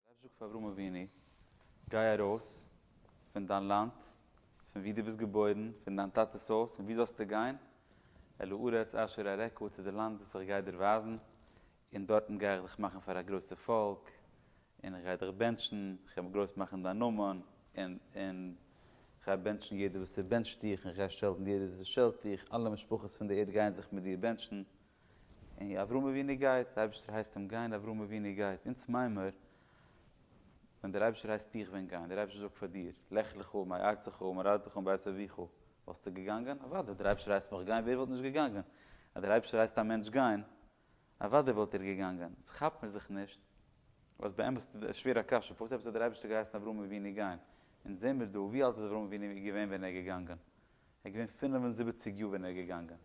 רב זאגט פאר אברהם אבינו, גיי ארויס פון דיין לאנד, פון וואו דו ביסט געבוירן, פון דיין טאטע'ס הויז, און וואו זאלסטו גיין? אל הארץ אשר אראך, צו די לאנד וואס איך גיי דיר ווייזן, און דארטן גיי איך דיך מאכן פאר א גרויסע פאלק, און איך גיי דיך בענטשן, איך גיי גרויס מאכן דיין נאמען, און איך גיי בענטשן יעדער וואס ער בענטשט דיך, און איך גיי שעלטן יעדער וואס ער שעלט דיך, אלע משפחות פון די ערד גייען זיך מיט דיר בענטשן. און אברהם אבינו גייט, דער אייבערשטער הייסט אים גיין, אברהם אבינו גייט, אונז מיימער, ווען דער אייבערשטער הייסט דיך ווען גיין, דער אייבערשטער זאגט פאר דיר, לך לך מארצך וממולדתך ומבית אביך, וואלסטו געגאנגען? אוודאי, דער אייבערשטער הייסט מיך גיין, ווער וואלט נישט געגאנגען? אז דער אייבערשטער הייסט א מענטש גיין, אוודאי וואלט ער געגאנגען. אונז כאפט מיר זיך נישט, אז באמת איז דאס א שווערע קשיא, פארוואס עפעס האט דער אייבערשטער געהייסן אברהם אבינו גיין? אונז זעמיר דא, ווי אלט איז אברהם אבינו געווען ווען ער איז געגאנגען? ער איז געווען פינף און זיבעציג יאר ווען ער איז געגאנגען.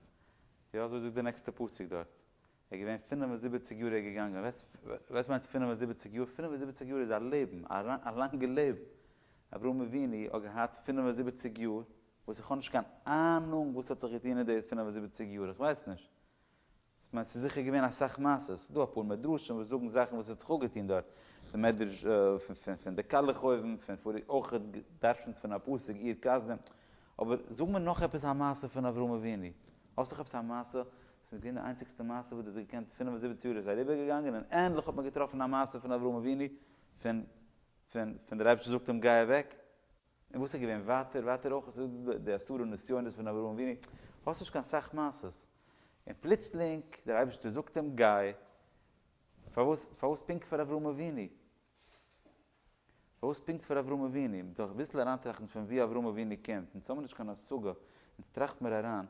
יא אזוי זאגט די נעקסטע פסוק דארט. ער איז געווען פינף און זיבעציג יאר ער איז געגאנגען. וועסט מיינט פינף און זיבעציג יאר? פינף און זיבעציג יאר איז א לעבן, א לאנגע לעבן. אברהם אבינו האט געהאט פינף און זיבעציג יאר וואס איך האב נישט קיין אהנונג וואס האט זיך געטון אין די פינף און זיבעציג יאר, איך ווייס נישט. כ'מיין ס'איז זיכער געווען אסאך מעשות, ס'איז דא אפאר מדרשים וואס זאגן זאכן וואס האט זיך אפגעטון דארט, די מדרש פון די קאלעך אויבן, פון פאריגע אויך געדרשנט פון א פסוק עיר קסדים, אבער זאג מיר נאך עפעס א מעשה פון אברהם אבינו, האסט נאך עפעס א מעשה, ס'איז געווען די איינציגסטע מעשה וואס דו האסט געקענט, פֿינף און זיבעציק יאר איז אריבער געגאנגען און ענדליך האט מען געטראפן א מעשה פון אברהם אבינו, פון דער אייבערשטער זאגט אים גיי אוועק, און וואס איז געווען ווייטער? ווייטער אויך איז דא די עשרה נסיונות פון אברהם אבינו, האסט נישט קיין סאך מעשות, און פלוצלינג דער אייבערשטער זאגט אים גיי, פארוואס פארוואס פונקט פאר אברהם אבינו? פארוואס פונקט פאר אברהם אבינו? מען זאל זיך אביסל אריינטראכטן פון וואו אברהם אבינו קומט, אונז האבן נישט קיין השגה, אונז טראכט מיר אריין,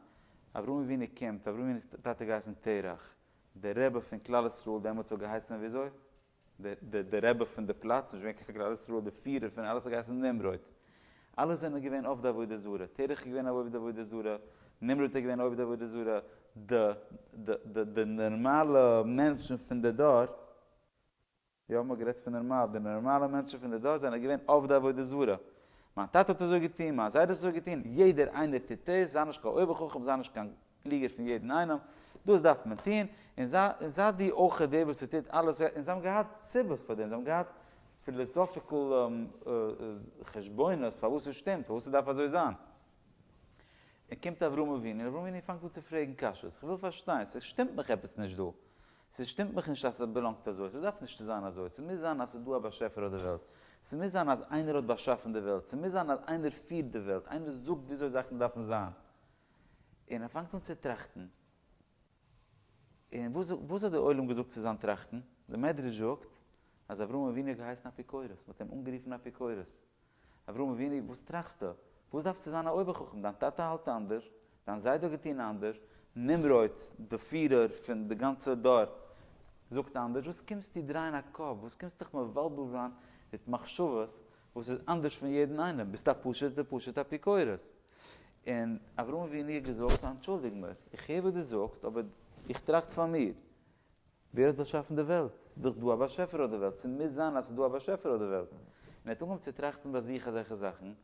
אברהם אבינו קומט, אברהם אבינו טאטע האט געהייסן תרח, דער רבי פון כלל ישראל דעמאלטס האט געהייסן וויאזוי? דער דער רבי פון דער פלאץ, נישט געווען קיין חקר כלל ישראל, דער פירער פון אלעס האט געהייסן נמרוד. אלע זענען געווען אויף די עבודה זרה, תרח איז געווען אויף די עבודה זרה, נמרוד איז געווען אויף די עבודה זרה, די די די די נארמאלע מענטשן פון די דור, יא מ'האט גערעדט פון נארמאל, די נארמאלע מענטשן פון די דור זענען געווען אויף די עבודה זרה. מיין טאטע האט אזוי געטון, מיין זיידע האט אזוי געטון, יעדער איינער טוט עס, זיי נישט קיין אויבער חכם, זיי נישט קיין קלוגער פון יעדן איינעם, דאס דארף מען טון, און זיי דו אויך די וואס ס'טוט אלעס, און זיי האבן געהאט סיבות פאר דעם, זיי האבן געהאט פיליסאפיקל חשבונות פארוואס עס שטימט, פארוואס עס דארף אזוי זיין. און קומט אברהם אבינו, און אברהם אבינו פאנגט אן צו פרעגן קשיות, איך וויל פארשטיין, ס'שטימט מיך עפעס נישט דא, ס'שטימט מיך נישט אז עס באלאנגט אזוי, ס'דארף נישט צו זיין אזוי, ס'מוז זיין אז ס'איז דא א באשעפער אויף די וועלט, ס'מוז זיין אז איינער האט באשאפן די וועלט, ס'מוז זיין אז איינער פירט די וועלט, איינער זאגט וויאזוי זאכן דארפן זיין. און ער פאנגט אן צו טראכטן. און וואס וואס האט דער עולם געזאגט צו זיין טראכטן? דער מדרש זאגט אז אברהם אבינו האט געהייסן אפיקורס, מ'האט אים אנגערופן אפיקורס. אברהם אבינו וואס טראכסטו? וואס דארפסטו זיין א אויבערחכם? דיין טאטע האלט אנדערש, דיין זיידע האט געטון אנדערש, נמרוד דער פירער פון די גאנצע דור זאגט אנדערש, וואס קומסטו דרייען א קאפ? וואס קומסטו דיך מבלבל זיין מיט מחשבות וואס איז אנדערש פון יעדן איינעם? ביסט א פשוט'ער פשוט אפיקורס. און אברהם אבינו האט געזאגט, אנטשולדיג מיר, איך הער וואס דו זאגסט, אבער איך טראכט פאר מיר, ווער האט באשאפן די וועלט? ס'איז דאך דא א באשעפער אויף די וועלט, ס'מוז זיין אז ס'איז דא א באשעפער אויף די וועלט. און ער האט אנגעהויבן צו טראכטן ביי זיך אזעלכע זאכן, און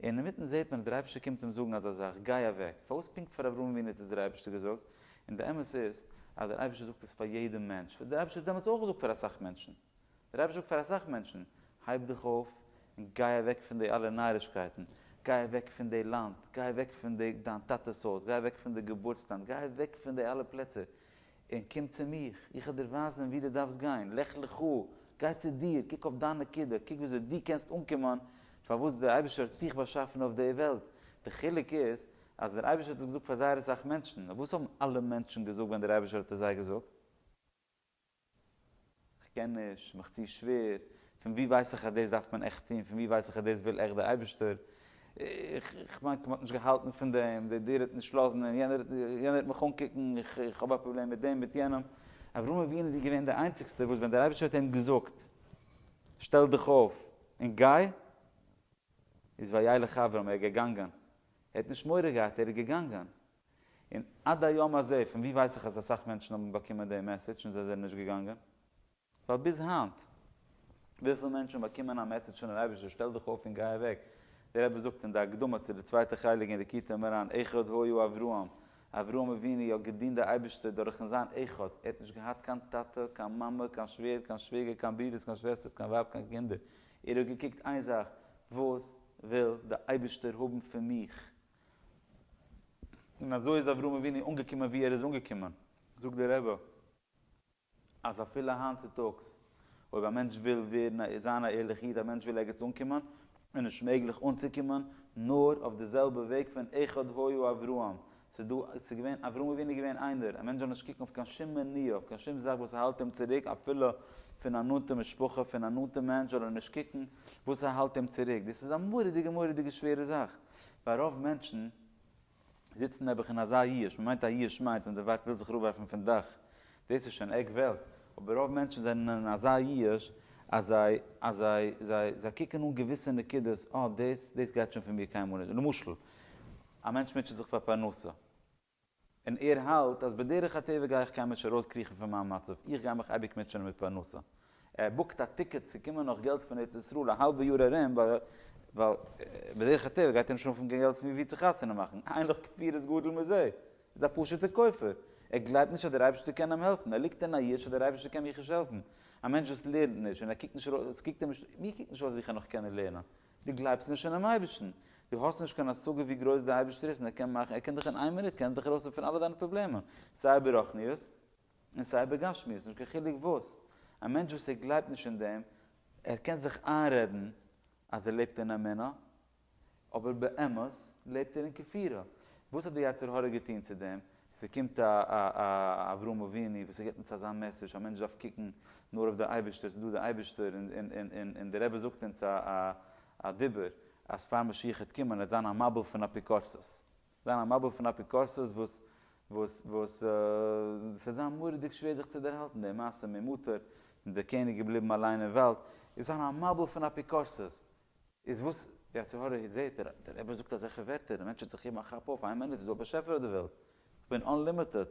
אינמיטן זעט מען ווי דער אייבערשטער קומט אים זאגן אזא זאך, גיי אוועק. פארוואס פונקט פאר אברהם אבינו האט עס דער אייבערשטער געזאגט? און די אמת איז אז דער אייבערשטער זאגט עס פאר יעדן מענטש, וואס דער אייבערשטער האט דעמאלטס אויך געזאגט פאר אסאך מענטשן. דער רבי זאגט פאר אסאך מענטשן, הייב דיך אויף און גיי אוועק פון די אלע נארישקייטן, גיי אוועק פון די לאנד, גיי אוועק פון די דיין טאטעס הויז, גיי אוועק פון די געבורטס לאנד, גיי אוועק פון די אלע פלעצער, און קום צו מיך, איך וועל דיר ווייזן ווי דו דארפסט גיין, לך לך, גיי צו דיר, קוק אויף דיין נקודה, קוק וויאזוי דו קענסט אנקומען פארוואס דער אייבערשטער האט דיך באשאפן אויף די וועלט, די חילוק איז אז דער אייבערשטער האט עס געזאגט פאר זייער אסאך מענטשן, און וואס האבן אלע מענטשן געזאגט ווען דער אייבערשטער האט עס זיי געזאגט? כ'קען נישט, מיך צו שווער, פון וואו ווייס איך אז דאס דארף מען עכט טון, פון וואו ווייס איך אז דאס וויל עכט דער אייבערשטער, איך מיין כ'מען האט נישט געהאלטן פון דעם, דער דיר האט נישט לאזן און יענער יענער האט מיך אנקוקן, איך האב א פראבלעם מיט דעם מיט יענעם, אברהם אבינו איז געווען דער איינציגסטער וואס ווען דער אייבערשטער האט אים געזאגט שטעל דיך אויף און גיי, איז וילך אברהם, ער איז געגאנגען, ער האט נישט מורא געהאט, ער איז געגאנגען, און עד היום הזה, פון ווי ווייס איך אז אסאך מענטשן האבן באקומען די מעסעדזש און זיי זענען נישט געגאנגען? ווייל ביז היינט, וויפיל מענטשן באקומען א מעסעדזש פונעם אייבערשטער שטעל דיך אויף און גיי אוועק, דער רבי זאגט אין די הקדמה צו די צווייטע חלק אין ליקוטי מוהר ן, אחד היה אברהם, אברהם אבינו האט געדינט די אייבערשטער דורכן זיין אחד, ער האט נישט געהאט קיין טאטע, קיין מאמע, קיין שווער, קיין שוועגער, קיין ברודערס, קיין שוועסטערס, קיין ווייב, קיין קינדער, ער האט געקוקט איין זאך, וואס וויל די אייבערשטער האבן פון מיך? און אזוי איז אברהם אבינו אנגעקומען וואו ער איז אנגעקומען. זאגט דער רבי אז אפילו היינט צוטאגס אויב א מענטש וויל ווערן זיין א ערליכע איד, א מענטש וויל ערגעץ אנקומען, איז נישט מעגליך אנצוקומען נאר אויף די זעלבע וועג פון אחד היה אברהם, ס'איז דא, ס'איז געווען, אברהם אבינו איז געווען איינער, א מענטש זאל נישט קוקן אויף קיין שום מניעה, אויף קיין שום זאך וואס האלט אים צוריק אפילו פון א נאנטע משפחה, פון א נאנטע מענטש זאל ער נישט קוקן וואס האלט אים צוריק, דאס איז א מורא'דיגע מורא'דיגע שווערע זאך. ווייל רוב מענטשן זיצן נעבעך אין אזא ייאוש, מען מיינט א ייאוש מיינט אז די ווייב וויל זיך אראפווארפן פון דאך, דאס איז שוין עק וועלט, אבער רוב מענטשן זענען אין אזא ייאוש אז זיי אז זיי זיי זיי קוקן אן געוויסע נקודות, אה דאס דאס גייט שוין פון מיר קיינמאל נישט, למשל א מענטש מוטשעט זיך פאר פרנסה, און ער האלט אז בדרך הטבע גיי איך קעמיש ארויסקריכן פון מיין מצב, איך גיי מיך אייביג מוטשענען מיט פרנסה. ער בוקט א טיקעט צו קומען נאך געלט פון ארץ ישראל א האלבע יאר ארום, ווייל בדרך הטבע גייט ער נישט אנפאנגען געלט פון וואו צו חתונה מאכן, אין לך כפיר איז גדול מזה, ער איז א פשוט'ער כופר, ער גלייבט נישט אז דער אייבערשטער קען אים העלפן, ער ליגט אין א יאוש אז דער אייבערשטער קען מיך נישט העלפן, א מענטש וואס לערנט נישט און ער קוקט נישט ארויס, עס קוקט אים נישט, מיר קוקט נישט אויס ווי איך וועל נאך קענען לערנען, דו גלייבסט נישט אינעם אייבערשטן, דו האסט נישט קיין השגה ווי גרויס דער אייבערשטער איז און ער קען מאכן, ער קען דיך אין איין מינוט קען ער דיך ארויסהעלפן פון אלע דיינע פראבלעמען, סיי ברחניות און סיי בגשמיות, נישט קיין חילוק וואס. א מענטש וואס ער גלייבט נישט אין דעם, ער קען זיך איינרעדן אז ער לעבט אין אמונה, אבער באמת לעבט ער אין כפירה. וואס האט דער יצר הרע געטון צו דעם? ס'קומט א א אברהם אבינו וואס ס'גיבט אונז אזא מעסעדזש, א מענטש דארף קוקן נאר אויף די אייבערשטער, ס'איז דא די אייבערשטער, און די רבי זאגט אונז א דיבור אז פאר משיח העט קומען העט זיין א מבול פון אפיקורסות, זיין א מבול פון אפיקורסות וואס וואס וואס ס'העט זיין מורא'דיג שווער זיך צו דערהאלטן, די מעשה מיט מטר, די קעניג געבליבן אליין אין וואלד, איז זיין א מבול פון אפיקורסות, איז וואס די עצי הרע איז זעהט ער, דער רבי זאגט אזעלכע ווערטער, דער מענטש וועט זיך געבן א כאפ אויף איין מינוט, ס'איז דא א באשעפער אויף די וועלט, כ'בין אנלימיטעד,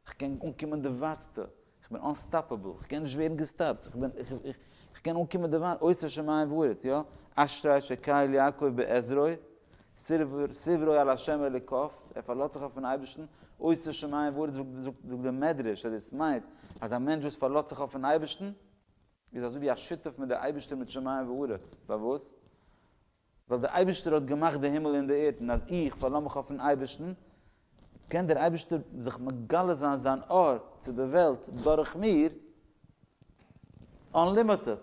כ'קען אנקומען די ווייטסטע, כ'בין אנסטאפעבל, כ'קען נישט ווערן געסטאפט, כ'קען אנקומען די ווייט, אויסער שמים וארץ, יא, אשרי שקיל יעקב בעזרו, סברו על השם אלוקיו, ער פארלאזט זיך אויפן אייבערשטן, אויסער שמים וארץ זאגט די מדרש אז דאס מיינט אז א מענטש וואס פארלאזט זיך אויפן אייבערשטן, איז אזוי ווי א שותף מיט דער אייבערשטער מיט שמים וארץ, פארוואס? ווייל דער אייבערשטער האט געמאכט די הימל און די ערד, און אז איך פארלאז מיך אויפן אייבערשטן, קען דער אייבערשטער זיך מגלה זיין זיין אור צו דער וועלט דורך מיר, אנלימיטעד,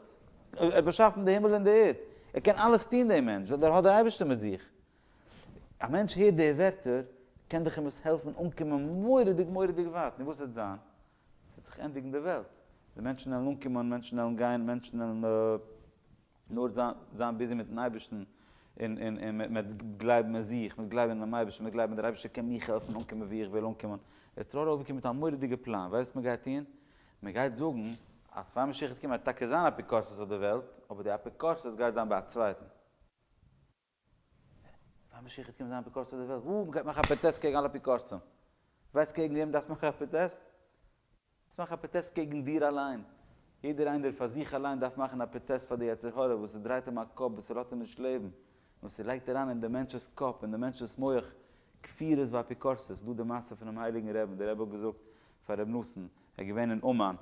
ער האט באשאפן די הימל און די ערד, ער קען אלעס טון דער מענטש, ווייל ער האט דער אייבערשטער מיט זיך. א מענטש הערט די ווערטער, קען דאך אים עס העלפן אנקומען מורא'דיג מורא'דיג ווייט, נו וואס וועט זיין? עס וועט זיך ענדיגן די וועלט, די מענטשן וועלן אנקומען, מענטשן וועלן גיין, מענטשן וועלן נאר זיין ביזי מיטן אייבערשטן, און מען וועט גלייבן אין זיך, מען וועט גלייבן אינעם אייבערשטן, מען וועט גלייבן דער אייבערשטער קען מיך העלפן אנקומען וואו איך וויל אנקומען. יעצט ר' רובין קומט מיט א מורא'דיגע פלאן, ווייסט וואס מען גייט טון? מען גייט זאגן אז פאר משיח וועט קומען וועט טאקע זיין אפיקורסות אויף די וועלט, אבער די אפיקורסות גייט זיין ביי א צווייטן. ביי משיח גייט קומען זיין אפיקורסים אויף די וועלט, וואו מ'גייט מאכן א פראטעסט קעגן אלע אפיקורסים. ווייסט קעגן וועם דארפסט מאכן א פראטעסט? דארפסט מאכן א פראטעסט קעגן דיר אליין. יעדער איינער פאר זיך אליין דארף מאכן א פראטעסט פאר די יצר הרע וואס ס'דרייט אים א קאפ, וואס ס'לאזט אים נישט לעבן, און וואס ס'לייגט אריין אין די מענטש'ס קאפ, אין די מענטש'ס מח, כפירות ואפיקורסות. ס'דא די מעשה פונעם הייליגן רעבן, דער רבי האט געזאגט פאר ר' נתן, ער איז געווען אין אומאן,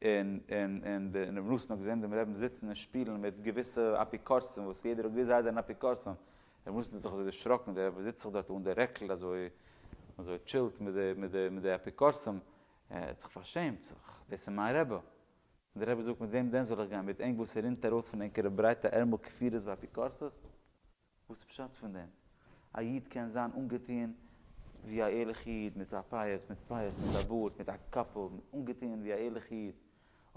און און און די און רבי נתן האט געזען דעם רעבן זיצן און שפילן מיט געוויסע אפיקורסים וואס יעדער האט געוויסט זיי זענען אפיקורסים, רבי נתן האט זיך אזוי דערשראקן דער רבי זיצט זיך דארט אן די רעקל אזוי אזוי טשילט מיט די מיט די מיט די אפיקורסים, ער האט זיך פארשעמט, זאגט ער דאס איז מיין רבי, און דער רבי זאגט מיט וועם דען זאל איך גיין מיט ענק וואס ער רינט ארויס פון ענקערע ברייטע ערמל כפירות ואפיקורסות? וואס איז פשט פון דעם? א איד קען זיין אנגעטוען ווי א ערליכע איד מיט א פאות מיט פאות מיט א בארד מיט א קאפל אנגעטוען ווי א ערליכע איד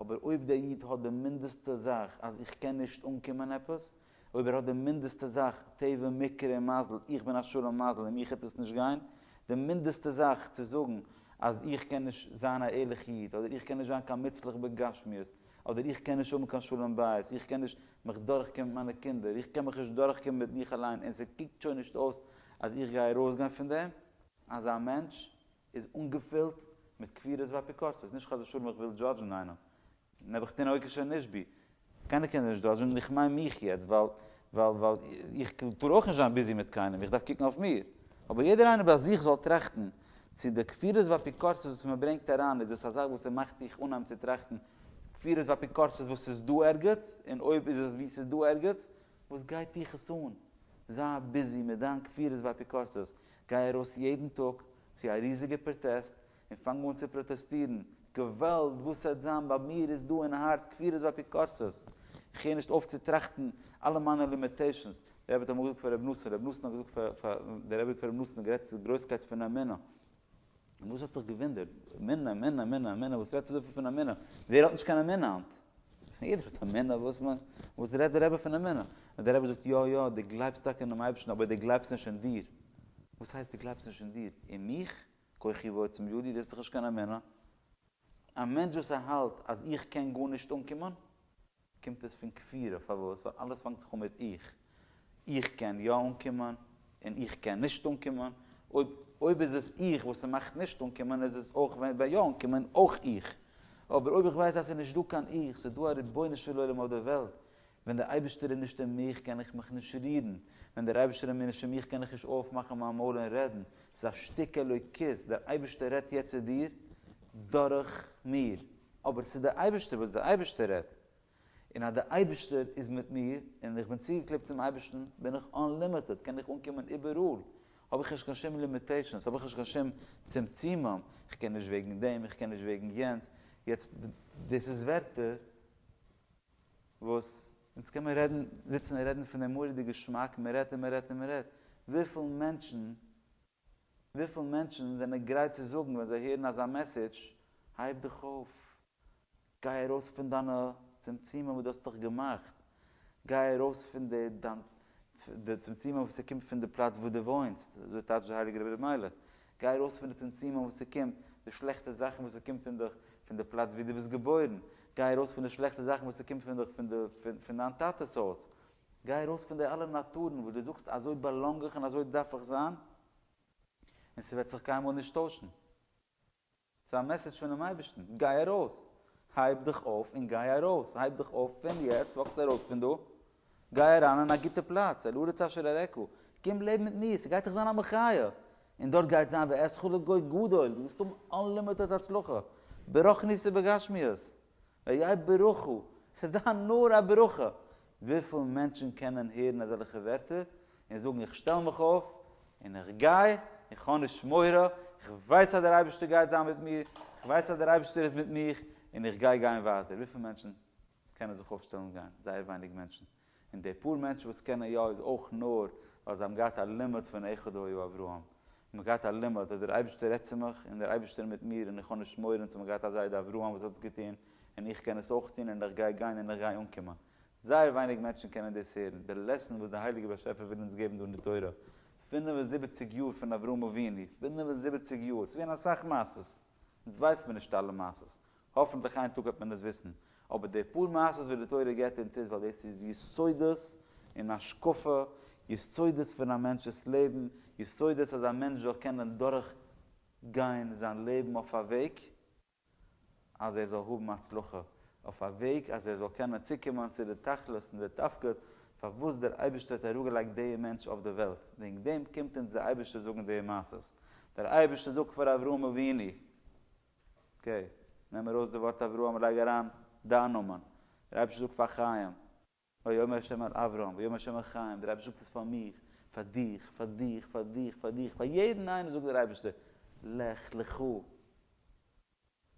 אבער אויב דער איד האט די מינדעסטע זאך אז איך קען נישט אנקומען עפעס אויב ער האט די מינדעסטע זאך טבע מקרה און מזל איך בין א שלום מזל און מיך העט עס נישט גיין די מינדעסטע זאך צו זאגן אז איך קען נישט זיין א ערליכע איד אדער איך קען נישט זיין קיין מוצלח בגשמיות אדער איך קען נישט האבן קיין שלום בית, איך קען נישט מיך דורכקומען מיט מיינע קינדער, איך קען מיך נישט דורכקומען מיט מיך אליין און ס'קוקט שוין נישט אויס אז איך גיי ארויסגיין פון דעם. אזא מענטש איז אנגעפילט מיט כפירות ואפיקורסות, נישט חס ושלום איך וויל דזשאדזשן איינעם, נעבעכטין אויך איז שוין נישט בי, קיינער קען נישט דזשאדזשן און איך מיין מיך יעצט ווייל ווייל איך טאר אויך נישט זיין ביזי מיט קיינעם, איך דארף קוקן אויף מיר, אבער יעדער איינער ביי זיך זאל טראכטן צו די כפירות ואפיקורסות וואס מען ברענגט אריין איז עס א זאך וואס עס מאכט דיך אנהייבן צו טראכטן כפירות ואפיקורסות וואס איז דא ערגעץ, און אויב איז עס וואו ס'איז דא ערגעץ, וואס גייט דיך עס אן? זיי ביזי מיט דיין כפירות ואפיקורסות, גיי ארויס יעדן טאג צו א ריזיגע פראטעסט און פאנג אן צו פראטעסטירן, געוואלד וואס ס'עט זיין ביי מיר איז דא אין הארץ כפירות ואפיקורסות, איך הער נישט אויף צו טראכטן אלע מיינע לימיטעישאנס, דער רבי האט אמאל געזאגט פאר רבי נתן, רבי נתן האט געזאגט פאר, דער רבי האט געזאגט פאר רבי נתן, גערעדט צו די גרויסקייט פון א מנין, רבי נתן האט זיך געוואונדערט, א מנין, א מנין, א מנין, א מנין, וואס רעדסטו אזויפיל פון א מנין? ווער האט נישט קיין א מנין היינט? יעדער האט א מנין, וואס מ, וואס רעדט דער רבי פון א מנין? האט דער רבי געזאגט, יא, יא, דו גלייבסט טאקע אינעם אייבערשטן, אבער דו גלייבסט נישט אין דיר. וואס הייסט דו גלייבסט נישט אין דיר? אין מיך? כוחי ועוצם ידי, דאס איז דאך נישט קיין א מנין. א מענטש וואס ער האלט אז איך קען גארנישט אנקומען? קומט עס פון כפירה, פארוואס? ווייל אלעס פאנגט זיך אן מיט איך, איך קען יא אנקומען, און איך קען נישט אנקומען, אויב אויב איז עס איך וואס ס'מאכט נישט אנקומען איז עס אויך ווען יא אנקומען אויך איך, אבער אויב איך ווייס אז ס'איז נישט דא קיין איך, ס'איז דא א רבונו של עולם אויף דער וועלט, ווען דער אייבערשטער איז נישט אין מיך קען איך מיך נישט רירן, ווען דער אייבערשטער איז מיר נישט אין מיך קען איך נישט אויפמאכן מיין מויל און רעדן, ס'איז א שטיק אלוקות, דער אייבערשטער רעדט יעצט צו דיר דורך מיר. אבער ס'איז דער אייבערשטער וואס דער אייבערשטער רעדט, און אז דער אייבערשטער איז מיט מיר, און איך בין צוגעקלעבט צום אייבערשטן, בין איך אנלימיטעד, קען איך אנקומען איבעראל, האב איך נישט קיין שום לימיטעישאנס, האב איך נישט קיין שום צמצומים, איך קען נישט וועגן דעם, איך קען נישט וועגן יענץ, יעצט דאס איז ווערטער וואס אונז קען מען רעדן, זיצן און רעדן פון דעם מורא'דיגע געשמאק, מען רעדט און מען רעדט און מען רעדט, וויפיל מענטשן וויפיל מענטשן זענען גרייט צו זאגן ווען זיי הערן אזא מעסעדזש, הייב דיך אויף, גיי ארויס פון דיינע צמצומים וואס דו האסט דיך געמאכט, גיי ארויס פון די דיין די צמצומים וואס ס'קומט פון די פלאץ וואו דו וואוינסט, אזוי טייטשט דער הייליגער רבי אלימלך, גיי ארויס פון די צמצומים וואס ס'קומט, די שלעכטע זאכן וואס ס'קומט אין דיך פון די פלאץ וואו דו ביסט געבוירן, גיי ארויס פון די שלעכטע זאכן וואס ס'קומט פון דיך פון די פון דיין טאטע'ס הויז, גיי ארויס פון די אלע נאטורן וואס דו זאגסט אזוי באלאנג איך און אזוי דארף איך זיין, און ס'וועט זיך קיינמאל נישט טוישן. ס'איז א מעסעדזש פונעם אייבערשטן, גיי ארויס! הייב דיך אויף און גיי ארויס! הייב דיך אויף פון יעצט, וואקסט ארויס פון דא, גיי אריין אין א גוטע פלאץ, אל ארץ אשר אראך, קום לעבן מיט מיר, ס'גייט דיך זיין א מחיה, און דארט גייט זיין ואעשך לגוי גדול, דו וועסט האבן אנלימיטעד הצלחה, ברוחניות ובגשמיות, ויהי ברוך הוא, ס'איז דא נאר א ברכה, וויפיל מענטשן קענען הערן אזעלכע ווערטער און זאגן איך שטעל מיך אויף און איך גיי, איך האב נישט מורא, איך ווייס אז דער אייבערשטער גייט זיין מיט מיר, איך ווייס אז דער אייבערשטער איז מיט מיך און איך גיי גיין ווייטער, וויפיל מענטשן קענען זיך אויפשטעלן און גיין? זייער ווייניג מענטשן, און די פאר מענטשן וואס קענען יא איז אויך נאר ווייל זיי האבן געהאט א לימוד פון אחד היה אברהם, מיר געהאט א לימוד אז דער אייבערשטער רעדט צו מיך און דער אייבערשטער מיט מיר און איך האב נישט מורא און צו מיר געהאט א זיידע אברהם וואס האט עס געטון און איך קען עס אויך טון און איך גיי גיין און איך גיי אנקומען. זייער ווייניג מענטשן קענען דאס הערן, דער לעסן וואס דער הייליגער באשעפער וויל אונז געבן דא אין די תורה. פֿינף און זיבעציק יאר פון אברהם אבינו, פֿינף און זיבעציק יאר, ס'איז געווען אסאך מעשות, אונז ווייסן מיר נישט אלע מעשות, האפנטליך איין טאג וועט מען עס וויסן, אבער די פאר מעשות וואס די תורה געבט אונז איז ווייל דאס איז יסודות אין השקפה, יסודות פון א מענטש'ס לעבן, יסודות אז א מענטש זאל קענען דורך גיין זיין לעבן אויף א וועג אז ער זאל האבן הצלחה, אויף א וועג אז ער זאל קענען צוקומען צו די תכלית און די תפקיד פארוואס דער אייבערשטער האט אראפגעלייגט די מענטש אויף די וועלט, וועגן דעם קומט אונז די אייבערשטער זאגן די מעשות, דער אייבערשטער זאגט פאר אברהם אבינו. אקעי, נעם ארויס די ווארט אברהם און לייג אריין דיין נאמען. דער אייבערשטער זאגט פאר חיים. ויאמר ה' אל אברהם, ויאמר ה' אל חיים, דער אייבערשטער זאגט עס פאר מיך, פאר דיך, פאר דיך, פאר דיך, פאר דיך, פאר יעדן איינעם זאגט דער אייבערשטער, לך לך,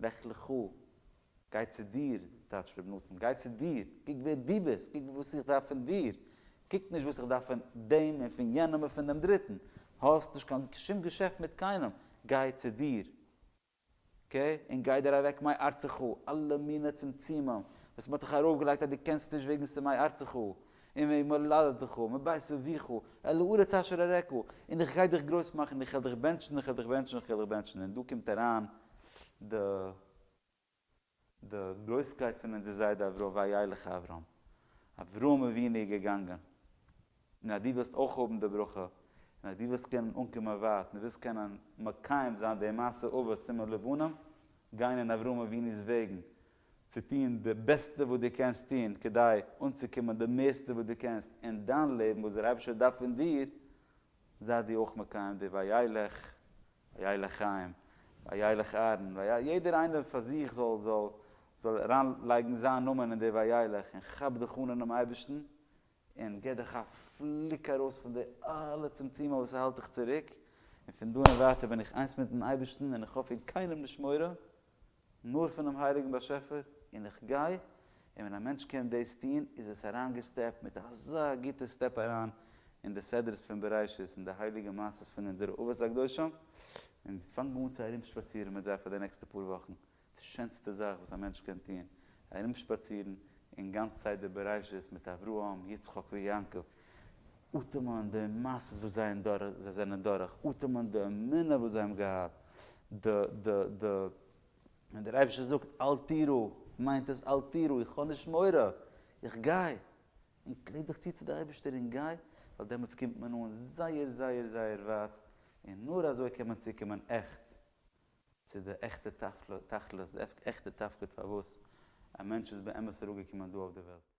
לך לך, גיי צו דיר, טייטשט רבי נתן, גיי צו דיר, קוק ווער דו ביסט, קוק וואס איך דארף פון דיר, קוק נישט וואס איך דארף פון דעם און פון יענעם און פון דעם דריטן, האסט נישט קיין שום געשעפט מיט קיינעם, גיי צו דיר, קע, און גיי דיר אַװעק מי אַרצך! אַלע מינע צמצומים, װאָס מע האָט דיך אַרױפֿגעלײגט, אַז דו קענסט נישט װעגן ס'מי אַרצך, און װעגן מולדתך, מבית אָבֿיך, אל הארץ אשר אראך, און איך גײ דיך גרױס מאַכן, איך װעל דיך בענטשן, איך װעל דיך בענטשן, איך װעל דיך בענטשן, און דאָ קומט אַרײַן די. די גרויסקייט פון אונזער זיידע אברהם וילך אברהם, אברהם אבינו איז געגאנגען, און אז דו ווילסט אויך האבן די ברכה, און אז דו ווילסט קענען אנקומען ווייט, און דו ווילסט קענען מקיים זיין די מעשה אבות סימן לבנים, גיין אין אברהם אבינו'ס וועגן, צו טון די בעסטע וואס דו קענסט טון כדי אנצוקומען די מערסטע וואס דו קענסט אין דיין לעבן וואס דער אייבערשטער דארף פון דיר, זייט דו אויך מקיים די ויילך ויילך חיים ויילך אהרן ויילך יעדער איינער פאר זיך זאל זאל זאל אריין לייגן זיין נאמען אין די ויילך און כאפ דיך אן אינעם אייבערשטן און גיב דיך א פליק ארויס פון די אלע צמצומים וואס האלט דיך צוריק און פון דא און ווייטער בין איך איינס מיטן אייבערשטן און איך האב פון קיינעם נישט מורא נאר פונעם הייליגן באשעפער, און איך גיי, און ווען א מענטש קען דאס טון, איז עס אריינגעסטעפט מיט אזא גוטע סטעפ אריין אין די סדרות פון בראשית, אין די הייליגע מעשיות פון אונזערע אבות הקדושים, און פאנג אן צו ארומשפאצירן מיט זיי פאר די נעקסטע פאר וואכן, די שענסטע זאך וואס א מענטש קען טון, ארומשפאצירן אין גאנץ סדר בראשית מיט אברהם, יצחק ויעקב. אטעמען די מאסעס וואס זיי און דורך זיי זענען דורך, אטעמען די אמונה וואס זיי האבן געהאט, די די די ווען דער אייבערשטער זאגט אל תיראו מיינט עס אל תיראו איך האב נישט מורא, איך גיי, און קלעב דיך צו צו די אייבערשטער און גיי, ווייל דעמאלטס קומט מען אן זייער זייער זייער ווייט, און נאר אזוי קען מען צוקומען עכט צו די עכטע תכלית, די עכטע תפקיד פארוואס א מענטש איז באמת אראפגעקומען דא אויף די וועלט.